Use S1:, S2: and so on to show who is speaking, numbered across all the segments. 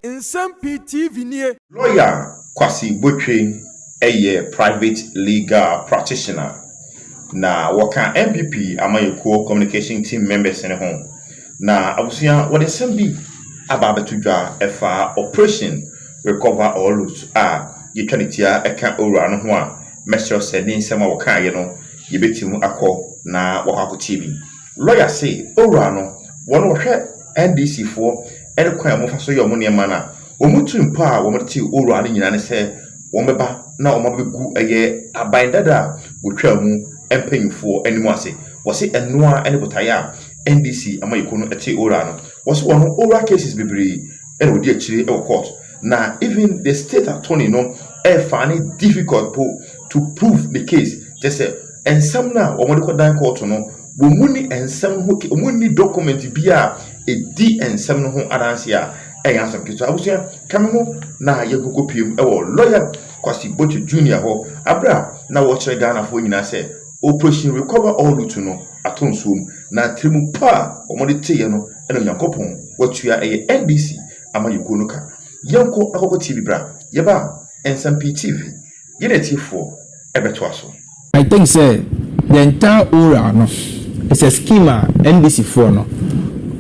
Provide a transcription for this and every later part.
S1: Nsɛm Pii TV nie. Lɔya
S2: Kwasi Botweng yɛ private legal practitioner na wɔka NPP amanyɛkuo communication team members no ho na abusua wɔde nsɛm bi aba abɛto dwa ɛfa operation recover or loot a yɛtwa ne tia ɛka owura no ho a mɛsrɛ sɛ ne nsɛm a wɔkaeɛ no yɛbɛtim akɔ na wɔakɔ akɔtie bi. Lɔya se, Owura no, wɔn a wɔhwɛ NDC foɔ ne kwan a wɔfa so yɛ wɔn nneɛma no a, wɔn tiri mpo a wɔde te Owura no nyinaa ne sɛ wɔbɛba na wɔabɛgu ɛyɛ aban dada a wɔtwaa mu mpanyinfoɔ anim ase. Wɔse ɛno ara ne botaeɛ a NDC amayɛkuo no te Owura no. Wɔse wɔn Owura cases bebree na wɔdi akyire wɔ court na even the state attorney no ɛfaa no difficult mpo to prove ne case kyerɛ sɛ Nsɛm no a wɔde kɔdan kɔɔto no, wɔn mu nni nsɛm ho ke, wɔn nni document bi a ɛdi nsɛm no ho adanseɛ a, ɛnyɛ asɛm ketewa. Abusua, ka me ho na yɛnkɔkɔ pie mu wɔ Lawyer Kwasi Botwe Junior hɔ, aberɛ a na wɔrekyerɛ Ghanafoɔ nyinaa sɛ Operation Recover All Lutu no atɔ nsuo mu, na tirimu pa a wɔde teeɛ no na Onyankopɔn watua ɛyɛ NDC amanyɔkuo no ka. Yɛnkɔ akɔkɔ tie bi bra, yɛba a, Nsɛm Pii TV. Gye n'atiefoɔ bɛtoa so. I think sɛ
S3: the entire ora no is a scheme a NDC foɔ no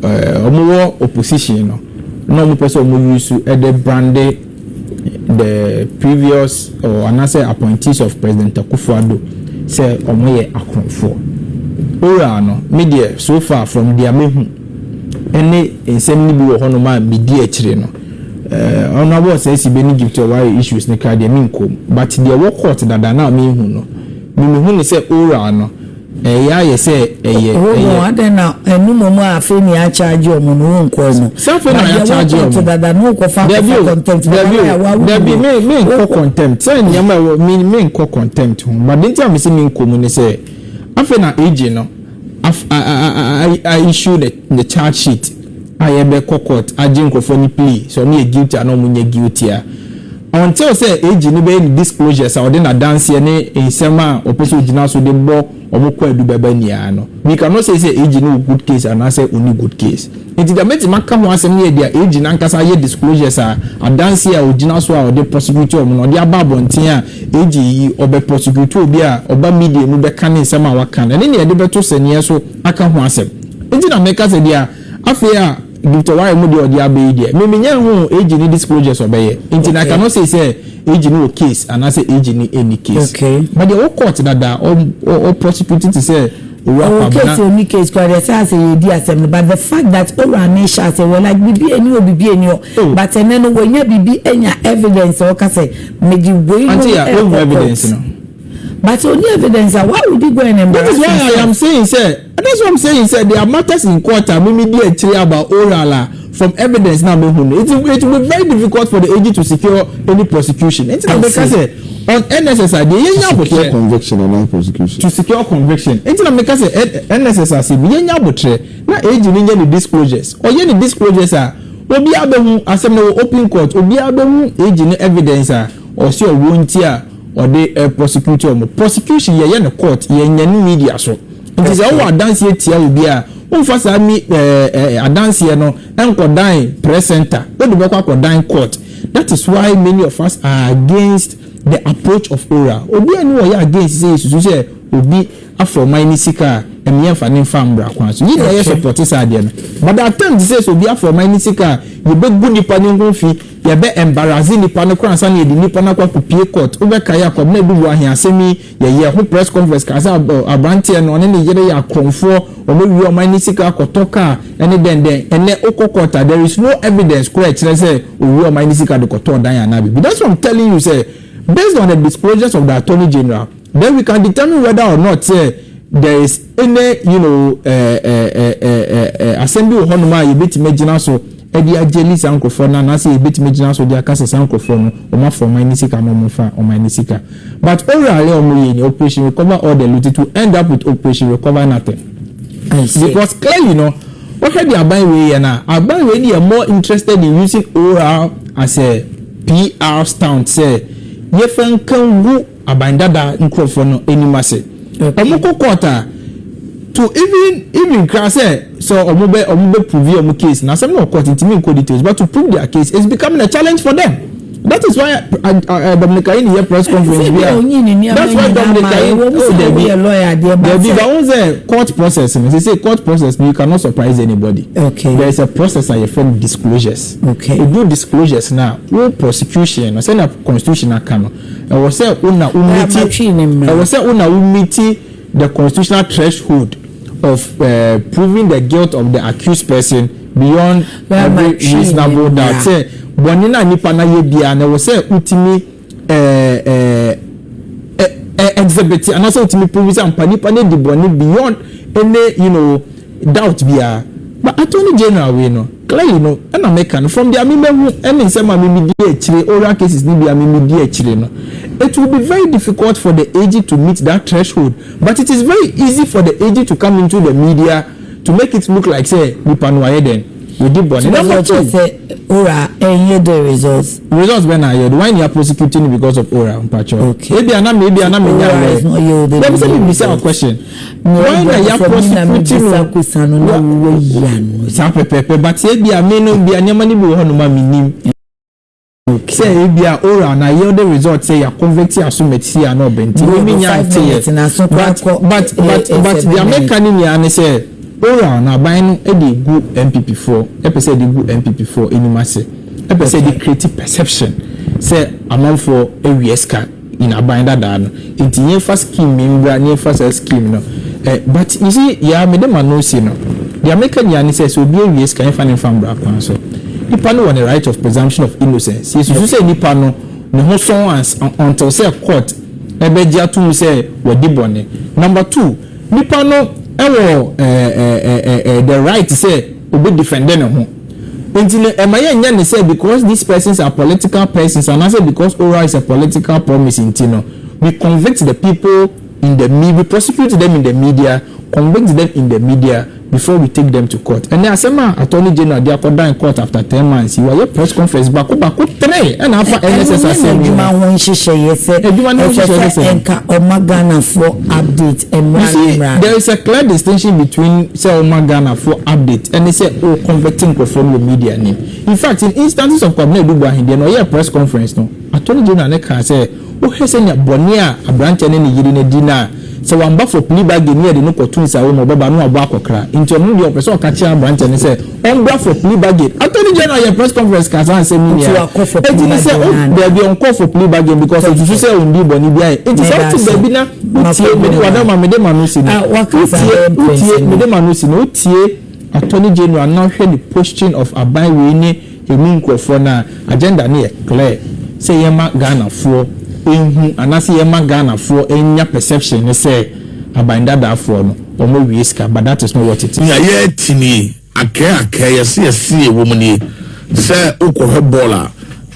S3: ɔmo wɔ opposition no na ɔmo pɛ sɛ ɔmo use de brande the previous or anaasɛ appointees of President Akuffo Addo sɛ ɔmo yɛ akorɔmfoɔ. Ora no me deɛ so far from deɛ mehu ɛne nsɛm no bi wɔ hɔ nom a medi akyire no, Ɔno abɔ saa si bɛ ne gift a ɔware issues no kra deɛ me nkɔm but deɛ ɛwɔ court dada no a me hu no me me hu no sɛ oral no ɛyɛ ayɛ sɛ ɛyɛ ɛyɛ. Ɔwɔ adɛn na
S4: ɛno mmom a afei na yɛ charge ɔmo no wo nkɔɔ mu. Sɛ afei na yɛ charge ɔmo. But deɛ
S3: ɛwɔ court dada no wokɔ fa akɔfa
S4: contempt papa no a wawu no. Dabi
S3: me me nkɔ contempt sɛ nneɛma ɛwɔ me me nkɔ contempt ho but deɛ nti a me se me nkɔ mu ne sɛ afei na AJ no. Af a a issue the the charge sheet a yɛbɛ kɔ court agye nkorɔfoɔ ne plea sɛ ɔmo yɛ guilty anaa ɔmo nyɛ guilty a until sɛ AG no bɛyɛ ne disclosures a ɔde n'adanseɛ ne nsɛm a ɔpɛ sɛ ɔgyina so de bɔ ɔmo kwaadu bɛba nyinaa no we cannot say sɛ AG no wɔ good case anaa sɛ ɔnni good case nti deɛ mɛtumi aka ho asɛm no yɛ deɛ AG no ankasa ayɛ disclosures a adanseɛ a ɔgyina so a ɔde prosecute ɔmo no ɔde aba abɔnten a AG yi, ɔbɛ prosecutor obi a ɔba media mu bɛka ne nsɛm a waka no, ɛne nea yɛde bɛto sɛneɛ so aka ho asɛm nti na meka sɛ deɛ afei a Victor Ware mu deɛ ɔde aba yi deɛ, me menya nhuu AG ne disclosures ɔbɛyɛ nti na I cannot say sɛ AG no wɔ case anaasɛ AG no nni case. But deɛ ɔwɔ court
S4: dada
S3: a, ɔ ɔ prosecute te sɛ Owura Ɔwɔ Kwabena. case ɔnni
S4: case koraa deɛ ɛsɛ a sɛ yɛdi asɛm no but the fact that Owura Amin hyɛ aseɛ wɔ like biribi ɛni hɔ biribi ɛni hɔ but ɛnɛ no wanya bibi anya evidence a ɔka sɛ mede wei no ɛkɔ court
S3: but only
S4: evidence a why would you go and embarrass yourself. that is why i am saying
S3: sɛ that's why i am saying sɛ there are matters in court a mimi di akyire about oral a from evidence na mehu no it it will be very difficult for the AG to secure any prosecution nti na meka sɛ on NSS a deɛ yɛnya abotrɛ to secure conviction and
S5: not prosecution to secure conviction
S3: nti na meka sɛ NSS ase bi yɛnya abotrɛ na AG no nyɛ ne disclosures ɔyɛ ne disclosures a. Obiara bɛhu, asɛm no wɔ open court, obiara bɛhu AG no evidence a ɔse ɔwɔ nti a ɔde prosecute wɔn. Prosecution yɛyɛ no court, yɛnyɛ no media so. Nti sɛ wowɔ adanseɛ tia obi a, womfa saa me eh adanseɛ no nkɔdan press center, wode bɛkɔ akɔdan court. That is why many of us are against the approach of oral. Obiara nni hɔ a ɔyɛ against sɛ yɛsusu sɛ obi afa ɔman no sika a ɛno yɛmfa no mfa mbra kwan so yɛnyina yɛ support saa adeɛ no but the attempt sɛ sɛ obi afa ɔman no sika a yɛbɛgu nipa no ho fi yɛbɛ embarrasse nipa no koraa ansa na yɛde nipa no akɔ akɔ pie court wobɛ kae a Kwabena Duboahe asɛm yi yɛyɛɛ ho press conference kaa sɛ abranteɛ no ɔne ne yere yɛ akorɔmfoɔ wɔn awia ɔman no sika akɔtɔ car ɛne dɛn dɛn ɛnɛ wokɔ court a there is no evidence koraa ɛkyerɛ sɛ owia ɔman no sika de kɔtɔɔ dan anaa biribi that's why I'm telling you sɛ based on the disclosures of the attorney general Then we can determine whether or not sɛ there is any you know ɛɛ ɛɛ ɛɛ ɛɛ asɛm bi wɔ hɔnom a yɛbɛtumi agyina so ɛde agyeli saa nkurɔfoɔ no anaasɛ yɛbɛtumi agyina so de aka sɛ saa nkurɔfoɔ no wɔn afɔ ɔman no sika anaa wɔn nfa ɔman no sika but orally wɔn yɛ ni operation recover all the loot it will end up with operation recover nothing because clearly no wɔhwɛ de aban wei yɛ no a aban wei deɛ more interested in using oral as a PR stunt sɛ yɛfa nka ngu Aban Dada nkurɔfoɔ no anim ase. Ɔmo kɔ court a, to even even koraa sɛ sɛ ɔmo bɛ ɔmo bɛ prove ɔmo case no, asɛm no wɔ court, ntumi nkɔ details, but to prove their case is becoming a challenge for them. That is why eh, Dominic Ayine yɛ press conference bi a, that's why Dominic Ayine, oh dabi, dabi, but ohun sɛ court process no, sese court process no, you cannot surprise anybody. Okay. There is a process
S4: a yɛfrɛ
S3: no disclosures. Okay. Edu
S4: disclosures
S3: no a, wo prosecution no, sɛnea constitution aka no, Ɛwɔ sɛ wo na wo meeti Ɛwɔ sɛ wo na wo meeti the constitutional threshold of eh, proving the guilt of the accused person beyond every reasonable doubt sɛ bɔne no a nipa no ayɛ biara no ɛwɔ sɛ wo tumi eh, eh, eh, eh, exhibit anaasɛ wo tumi prove sɛ ampa nipa no adi bɔne beyond any you know doubt biara but attorney general wei no Clay no na meka no, from deɛ me mahu ne nsɛm a me me di akyire, oral cases no bi a me me di akyire no, it will be very difficult for the aged to meet that threshold, but it is very easy for the aged to come into the media to make it look like sɛ nipa no wayɛ dɛn? Wadi bɔne. Nti wobɛka akyerɛ sɛ oral
S4: ɛnyɛ dɛ result? Result bɛn na ayɛ do? Why
S3: na yɛ prosecute no because of oral mpakyɛw? Okay. Ebia na
S4: me, ebia na
S3: me nya mmerɛ. Oral is not yielding any result. Dabi sɛ me bisa wo question. Hwan na yɛaporɔ so fiti no wɔ. Saa pɛpɛɛpɛ but ebia me no bia nneɛma no bi wɔ hɔnom a mennim. Sɛ ebia oral na yield result sɛ yɛ convict aso mɛtisi a na ɔbɛ nti me me nya nteɛ but but but but deɛ meka ne nyinaa ne sɛ oral no aban no de egu NPP foɔ ɛpɛ sɛ ɛde gu NPP foɔ anim ase ɛpɛ sɛ ɛde create perception sɛ amanfoɔ awia sika. Nhaban dadaa no nti yɛnfa scheme yi mbra na yɛnfa saa scheme no ɛ but you see yea mede ma no si no deɛ meka nyinaa ne sɛ sɛ obi awie sika yɛnfa no nfa mbra kwan so nipa no wɔ ne right of presumption of innocence yɛsusu sɛ nipa no ne ho sɔn ans until sɛ court ɛbɛgye ato mu sɛ wadi bɔne number two nipa no ɛwɔ ɛ ɛ ɛ ɛ the right sɛ ɔbɛ defend ne ho. Nti no ɛma yɛnyɛ no sɛ because these persons are political persons anaasɛ because Ora is a political promise nti no we convict the people in the me we prosecute them in the media, convict them in the media before we take them to court. Ɛnnɛ asɛm a Attorney General de akɔdan court after ten months yi wayɛ press conference baako baako three ɛna afa NSS asɛm yi ho. Ɛno nyɛ n'adwuma ho nhyehyɛeɛ sɛ ɛsɛ sɛ ɛnka ɔma Ghanafoɔ update mmra ne mmra no. You see there is a clear distinction between sɛ wo ma Ghana foɔ update ɛne sɛ wo convert nkorɔfoɔ no wɔ media nim. In fact in instances of Kwabena Adu Boahen deɛ na ɔyɛɛ press conference no Attorney General no kaa sɛ wo hwɛ sɛnea bɔne a abranteɛ ne ne yere no adi no a sɛ wamba for plea bargain ne yɛde no kɔto nsawo mu ɔbɛba no wabɔ akɔkra nti ɔno deɛ ɔpɛ sɛ ɔka kyerɛ abranteɛ no sɛ Ɔmbra for plea bargain. Attorney general yɛ press conference kaa saa nsɛm yi nyinaa. Eti ne sɛ o daabi ɔnkɔ for plea bargain because osusu sɛ ondii bɔne biara yɛ. Eti sɛ wote baabi na wotie mede wada ma mede ma no si no wotie wotie mede ma no si no wotie attorney general na wohwɛ ne posting of aban wei ne emu nkorɔfoɔ no a agenda no yɛ clear sɛ yɛma Ghanafoɔ nhu anaasɛ yɛma Ghanafoɔ nya perception ne sɛ aban dadaafoɔ no Wɔn awie sika but that is not what it is. Nea yɛrete nie,
S1: akɛɛ akɛɛ, yɛse yɛse yɛwɔ mu nie, sɛ wokɔhwɛ bɔɔl a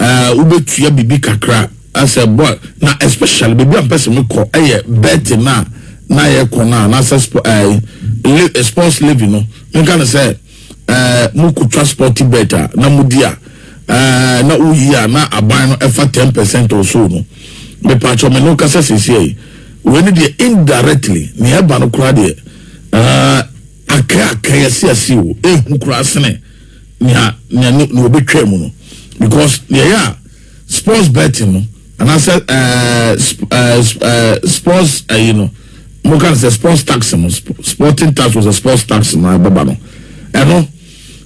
S1: eh, wobɛtua biribi kakra eh, sɛ bɔɔl na especially baabi a mpɛ sɛ mekɔ yɛ betting no a na yɛkɔ no a anaasɛ sp- eh, li- eh, sports living no menka no sɛ eh, mokɔtwa sporty bet a na modi a eh, na woyi a na aban no ɛfa 10 percent or so no mepaakyɛ me ne wokasa seesiei wei ne deɛ indirectly ne ɛba no koraa deɛ eh, akɛ akɛ yɛsease o ɛhu koraa sene nea nea ne wɔbɛtwa mu no because deɛ yɛ a sports betting no anaasɛ ɛɛ sports ɛyi no mo ka sɛ sports tax no sporting tax wɔ sɛ sports tax no ɛbɛba no ɛno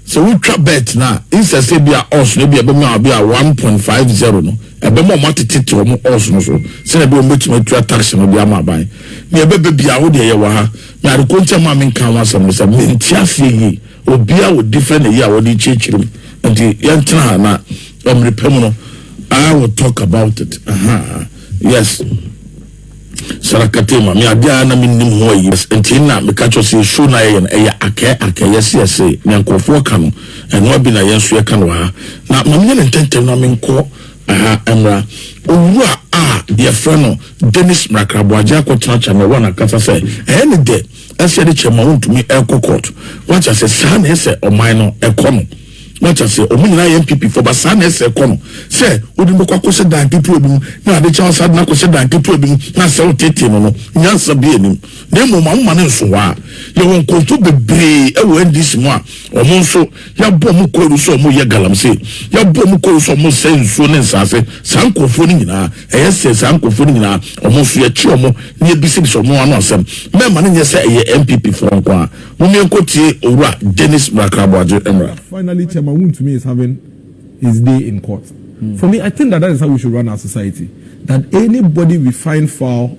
S1: sɛ wotwa bet no a nsɛ sɛ bi a ɔs no bi a ɛbɛma a bi a one point five zero no ɛbɛma ɔmo atete te ɔmo ɔs no so sɛnɛ bi ɔmo bɛtumi atua tax no de ama aban nea ɛbɛbɛ bi a wodeɛ yɛwɔ ha na ade kɔnkyɛn mu a menka ho asɛm no sɛ mente aseɛ yie obiara wɔ different ɛyi a wɔde kyerɛkyerɛ mu nti yɛntena ha na Ɛmere pɛ mu no, I will talk about it. Aha, yes. Sarakate ma me ade a na me nim ho ayi. Nti na me ka kyerɛ sɛ show na yɛn ɛyɛ akɛ akɛ yɛse yɛse ne nkurɔfoɔ ka no ɛno abi na yɛn nso yɛka no ha na ma menyɛ ne ntɛntɛm na menkɔ aha mmra owura a yɛfrɛ no Dennis Mrakraboagye akɔtena kyɛ na ɛwɔ n'akasa sɛ ɛyɛ ne dɛ ɛsɛ de kyɛ ma wontumi ɛkɔ court wate ase saa na ɛsɛ ɔman no ɛkɔ no wate ase ɔmo nyinaa yɛ npp fo ba saa na ɛsɛ ɛkɔ no sɛ wode mbɛkɔ akɔhyɛ dan ketewa bi mu na ade kyɛ ɔsa de no akɔhyɛ dan ketewa bi mu na sɛ wotete no no nyansa bi anim na mmom ma woma no nso hɔ a yɛwɔ nkurɔfo bebree ɛwɔ ndc mu a ɔmo nso yɛabɔ ɔmo kɔɔru sɛ ɔmo yɛ galamsey yɛabɔ ɔmo kɔɔru sɛ ɔmo sɛ nsuo ne nsaase saa nkurɔfoɔ no nyinaa Ɛyɛ sɛ saa nkurɔfoɔ no nyinaa, wɔn nso yɛkye wɔn na yɛbisabisa wɔn ano asɛm. Mɛmma no nyɛ sɛ ɛyɛ NPP foɔ nko ara. Mom yɛnkɔtie Owura Dennis Mrakra Boagye mmra. Finally chairman Wontumi
S6: is having his day in court for me I think that that is how we should run our society that anybody we find foul.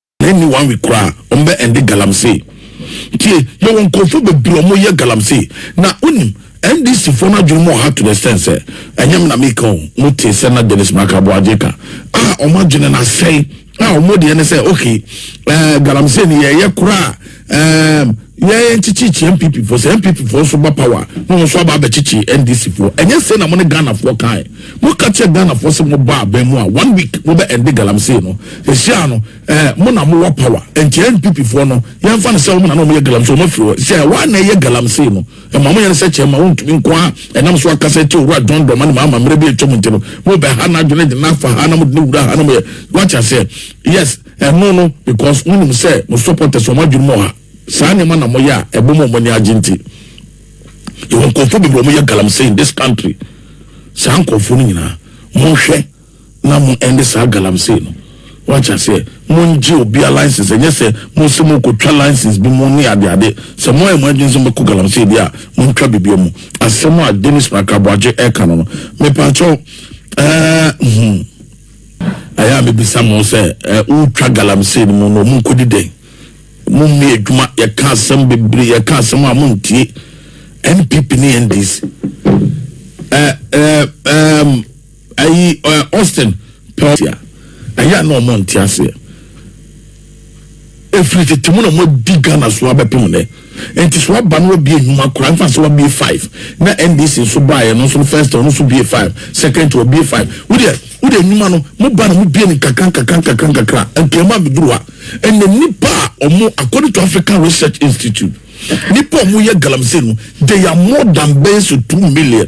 S1: ɛnni one week koraa wɔn bɛ ɛnde galamsey tie yɛ wɔn nkurɔfoɔ bebree wɔn yɛ galamsey na wonim ndc foɔ no adwene mu ɔha to the extent sɛ ɛnyɛ na meka o mo te sɛ na dennis makabo agye ka a wɔn adwene na sɛe a wɔn deɛ ne sɛ okay ɛɛ galamsey ni yɛyɛ koraa Um, yɛn nkyekyekyia npp foɔ sɛ npp foɔ nso ba power na wɔn nso aba abɛkyekye ndc foɔ ɛnyɛ sɛ na mo ne ghana foɔ kan mo ka kyerɛ ghana foɔ sɛ mo ba abɛn mu a one week mo bɛ ɛnde galamsey no ehyia no ɛɛ mo na mo wɔ power nti npp foɔ no yɛn nfa no sɛ wɔn na na wɔn yɛ galamsey wɔn afiri hɔ sɛ wɔn na ɛyɛ galamsey no ɛma mo yɛn sɛ kyɛn ma wɔn ntumi nko a ɛnam so akasa ti owura dɔn dɔn ma ne ma ama mmerɛ bi etwa mo nti no mo bɛ ha na adwene de na afa ha na mo de ne wura ha na mo yɛ wɔakyɛ sɛ yes. Ɛno no because mo nim sɛ mo supporters wɔn adwene mu ɔha saa nneɛma na mo yɛ a ɛbɔ mo a wɔn ani agye nti. Yɛwɔ nkurɔfoɔ bebree wɔn yɛ galamsey in this country. Saa nkurɔfoɔ no nyinaa mo nhwɛ na mo ɛnde saa galamsey no. Wɔate aseɛ mo ngye obia license ɛnyɛ sɛ mo sɛ mo kɔ twa license bi mo ne ade ade. Sɛ mo ayɛ mo adwene sɛ mo bɛkɔ galamsey deɛ a mo ntwa bibia mu. Asɛm a Dennis Makraboagye ɛka no no mepaakyɛw ɛɛ hmm. Ɛyɛ a mebisa mo sɛ, eh, wotwa galamsey no mu no, ɔmo nkɔdi dɛn? Mo nni adwuma, yɛka asɛm bebree, yɛka asɛm a montie. NPP ne NDC. Eh, eh, eh, ayi, eh, Austin, pɛ ɔte a, ɛyɛ a na ɔmo nte aseɛ. Ɛfiri tete mu na moadi Ghana so abɛpem nnɛ. Enti sɛ waba na wabie nnwuma koraa, mfa sɛ wabie five na NDC nso baeɛ no nso no first ɔno nso bie five, second wabie five. Wo deɛ, wo deɛ nnwuma no moba na mobie no nkakra nkakra nkakra nkakra Nkramu abɛduru ha. Ɛnnɛ nnipa a wɔn, according to African Research Institute, nnipa a wɔyɛ galamsey no, they are more than bɛyɛ sɛ two million.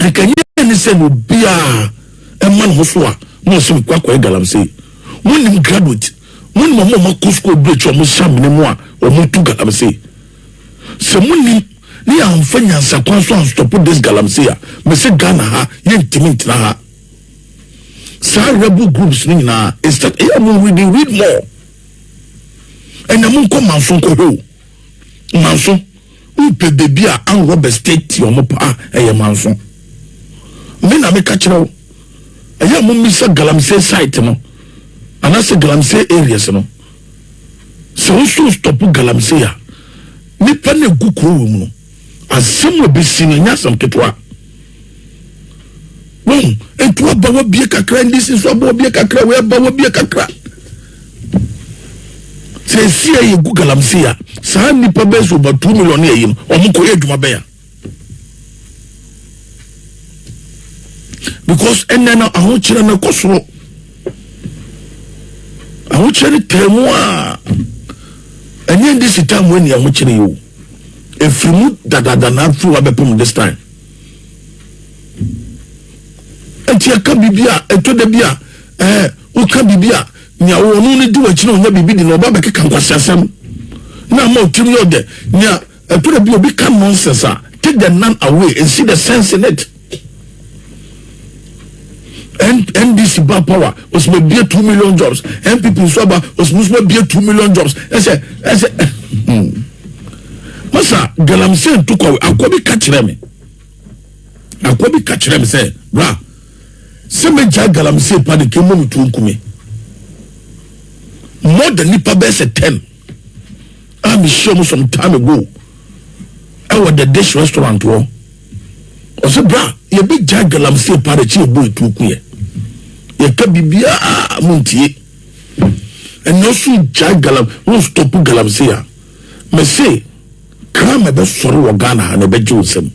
S1: Anka ɛnyɛ ne sɛ na obiara ɛma ne ho so a na ɔsɛ mekɔ akɔyɛ galamsey. Monim graduate, monim ɔmo a ɔmo akɔ sukuu ɔmo akyi ɔmo hyɛ amena mu a ɔmo tu galamsey. Sɛ monim ne yɛ anfa nyansa kwan so anstɔpo this galamsey a mese Ghana ha yɛ ntumi ntena ha. Saa rebel groups no nyinaa is that ɛyɛ ɔmo reading read more. Ɛnna mo nkɔ manso nkɔ hwɛ o. Manso wopɛ baby a an Robert stay ti ɔmo paa ɛyɛ manso me na meka kyerɛ wo ɛyɛ a momisa galamsey site no anase galamsey areas no sɛ woso stop galamsey a nipa na egu kuro wɔ mu no. Asɛm a obesi no nyɛ asɛm ketewa. Wɔn etu aba wɔ bie kakra, ndc nso aba wɔ bie kakra, wɔ aba wɔ bie kakra. Sɛ esi yɛ yɛ gu galamsey a, saa nipa bɛyɛ so over two million yɛ yi no, wɔn kɔ yɛ adwuma bɛyɛ. Because ɛnɛ no ahokyerɛ no kɔ soro, ahokyerɛ no tɛn mu a, ɛnyɛ ndc tɛn mu ɛni ahokyerɛ yi o. Efiri mu dadaada na afiri wa bɛpem this time. Eti ɛka bibi a ɛtɔ da bi a ɛɛ woka bibi a nea wɔn no ne di wɔn akyi na ɔnya bibi di na ɔba bɛkeka nkwasi asɛm na ama ɔtirim yɛ ɔdɛ nea ɛtɔ da bi obi ka nonsense a take the nan away and see the sense in it. ndc ba power osima bie two million jobs npp nso aba osimusuma bie two million jobs ɛsɛ ɛsɛ hmm. masa galamsey ntukwawe akɔ bi ka kyerɛ me akɔ bi ka kyerɛ me sɛ bra sɛ megya galamsey pa de kemu no tuo nkume more than nipa bɛsɛ ten. a mehyia mu some time ago ɛwɔ the dish restaurant hɔ ɔsɛ bra yɛbɛgya galamsey paa de kye yɛbɔ ɛtuo ku yɛ yɛka biribiaa mu ntie ɛnɛ ɔso gya galam wo stop galamsey a mese kram ɛbɛsɔre wɔ Ghana ha na ɛbɛgye wo nsam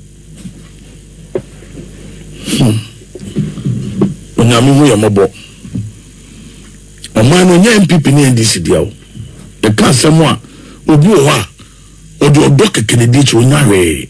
S1: hmm. onyame hu yɛ mmɔbɔ Ɔman no nyɛ NPP ne NDC dea o. Meka asɛm a obi wɔ hɔ a ɔde ɔdɔ kɛkɛ na ɛdi akyi, ɔnnya hwee.